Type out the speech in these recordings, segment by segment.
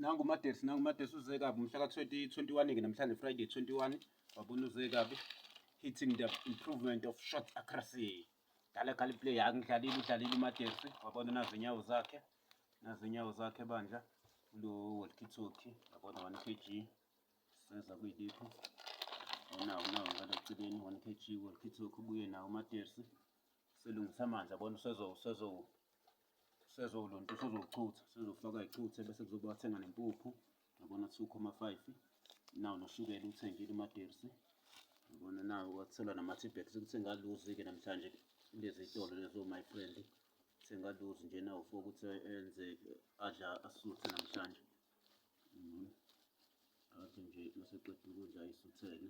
nangu umadesi nangu umadesi uze kabi umhla ka-2021 ke namhlanje friday 21 wabona uze kabi hitting the improvement of short accuracy dala kali play angidlalile udlalile umadesi wabona nazo inyawo zakhe nazo inyawo zakhe bandla lo walkitoki wabona 1 kg seza kuyilipho unawo unawo ngalo celeni 1 kg walkitoki ubuye nawo umadesi Silungisa amanzi abona usezowulunta usuzowuchutha usuzofaka ichuthe bese kuzoba wathenga nempuphu yabona 2,5 nawo noshukela uthengile umadirsi yabona nawo wathola nama-tibet ukuthi ngaluzi-ke namhlanje kulezi tolo lezo my friend sengaluzi nje nawo for ukuthi enze adla asuthe namhlanje mm-hmm. athi nje maseqeda ukudla isuthele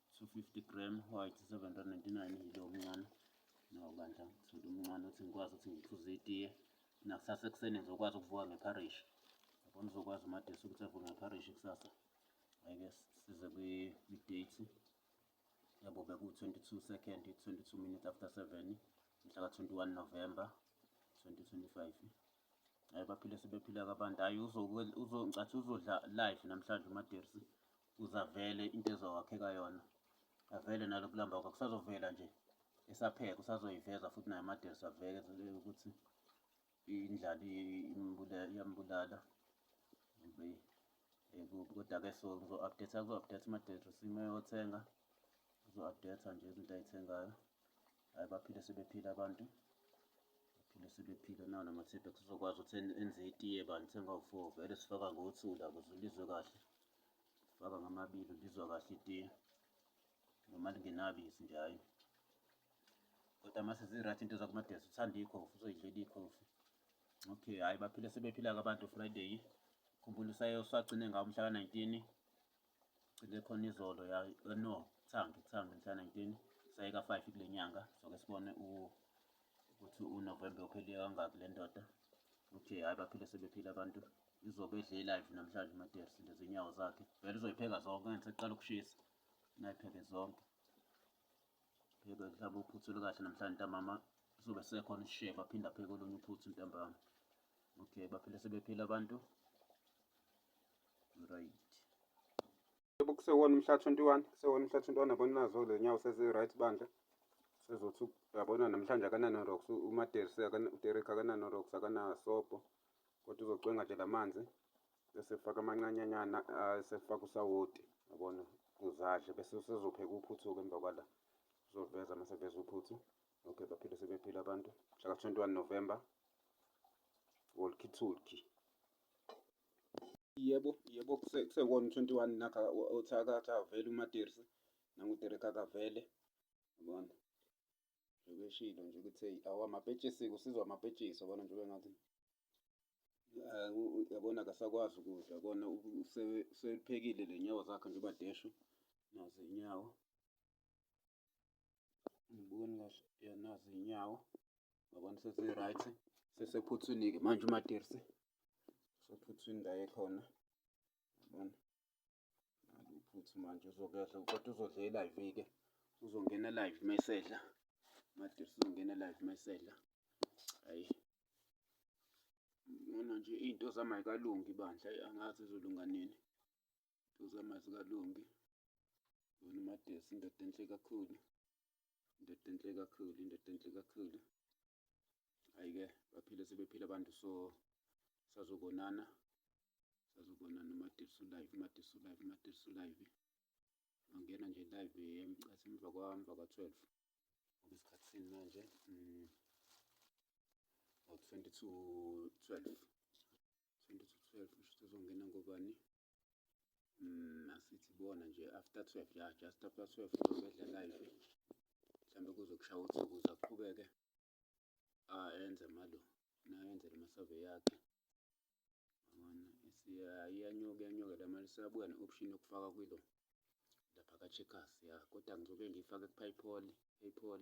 250 gram white 799 yilo omncane no bandla ngithole umncane ukuthi ngikwazi ukuthi ngiphuze itiye nakusasa ekuseni ngizokwazi ukuvuka ngepharishi yabona uzokwazi umadesi ukuthi avuke ngepharishi kusasa ayike size kwi-date yabo beku-22 second 22 minutes after 7 mhla ka-21 november 2025 hayi baphile sebephila kabantu hayi uzongicathi uzodla life namhlanje umadersi Kuze avele into ezowakheka yona, avele naloku lamba kwakhe kusazovela nje esapheka, usazoyiveza futhi naye amadelsi aveke ukuthi indlala iyambulala kodwa-ke so ngizo-update-a kuzo-update ama-delsi sime yothenga uzo-update-a nje izinto ayithengayo. hayi baphile sebephile abantu baphile sebephile nawo namathiphe sizokwazi ukuthi enze itiye bantu sengawu-four vele sifaka ngo-two la kuze ulizwe kahle sifaka ngamabili ulizwa kahle itiye noma lingenabisi nje hhayi kodwa mase zi-right into zakumadesi uthanda ikhofi uzoyidlela ikhofi okay hhayi baphile sebephila-ke abantu friday khumbula usagcine ngawo umhla ka-nineteen Cike khona izolo ya eh, no thangi thangi mhla 19 sayeka 5 kule nyanga soke sibone ukuthi uNovember uphele kangaki le ndoda ukuthi hayi baphile sebephila abantu izobe edle live namhlanje uMadeus lezi nyawo zakhe vele uzoyipheka zonke ngani seqala ukushisa nayipheke zonke pheke mhlawumbe uphuthu lukahle namhlanje ntamama kuzobe sekhona isishebo aphinde apheke olunye uphuthu ntambama okay baphile sebephila abantu right yebo kusewona umhla 21 kusewona umhla 21 yabona nazo le nyawo sezi-right bandla sezothi yabona namhlanje akananorox umaderis uderik akananorox akanasobho kodwa uzocwenga nje la manzi bese faka amancanyanyana esefaka usawoti yabona kuzadle bese usezopheka uphuthu-ke emva kwala uzoveza uma seveza uphuthu okay baphile sebephile abantu mhlaka 21 november wolkithulki Yebo, yebo kusekuwona u-twenty one nakha uthi akavele uMaDirsi nanguDerek akavele yabona. Njengoba eshilo nje ukuthi eyi awamapetshisi-ke usizwa amapetshisi yabona njengoba engathi yabona akasakwazi ukudla yabona useluphekile leynyawo zakhe njengoba adeshu nazi iy'nyawo. Angiboni kahle ya nazi iy'nyawo yabona sezi-right sesephuthwini-ke manje uMaDirsi. sophutha indawo ekhona yabona ngabe uphutha manje uzokuyadla kodwa uzodla e-live-ke uzongena live mesedla made uzongena live mesedla hayi ngona nje iy'nto zami ay'kalungi bandla angazi zizolunga nini Ntozama zikalungi. Yona uMadesi indoda enhle kakhulu. Indoda enhle kakhulu, indoda enhle kakhulu. Hhayi-ke baphile sebephile abantu so sazobonana. Sazobonana uMadesi ulive, uMadesi ulive, uMadesi ulive. Angena nje live emcase emva kwamva ka-twelve. Ngoba isikhathi sini manje? Mm. Ngo-twenty to twelve. 20 to 12 kusho ukuthi uzongena ngobani mm, asithi bona nje after 12 ya just after 12 uzobedla live mhlawumbe kuzokushaya uthi ukuze aqhubeke ayenze malo nayenze le masave yakhe iyanyuka iyanyuka la mali sabuya ne-option yokufaka kwilo lapha ka-checkers ya kodwa ngizobe ngiyifake ku-paypal paypal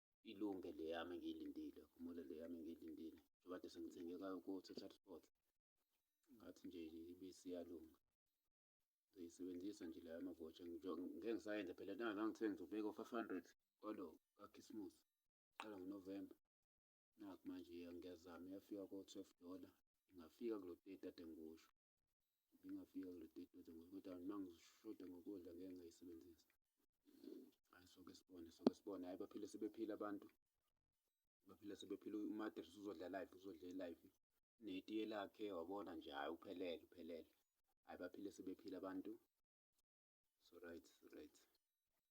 ilunge le yami engiyilindile kumule le yami engiyilindile njengoba kade sengithenge kayo ku-total sport ngathi nje ibisi iyalunga ngiyisebenzisa nje leyo amavotsha ngeke ngisayenza phela nangazange kuthiwe ngizobeka u-five hundred kwalo kakhisimusi qala ngonovemba nakhu manje ngiyazama iyafika ko-twelve dollar ingafika kulo teti kade ngikusho ngingafika kule date kodwa ngoba kodwa uma ngishoda ngokudla ngeke ngayisebenzisa hayi soke sibone soke sibone hayi baphile sebephile abantu baphile sebephile umadres uzodla live uzodla e-live netiye lakhe wabona nje hhayi uphelele uphelele hhayi baphile sebephile abantu so right so right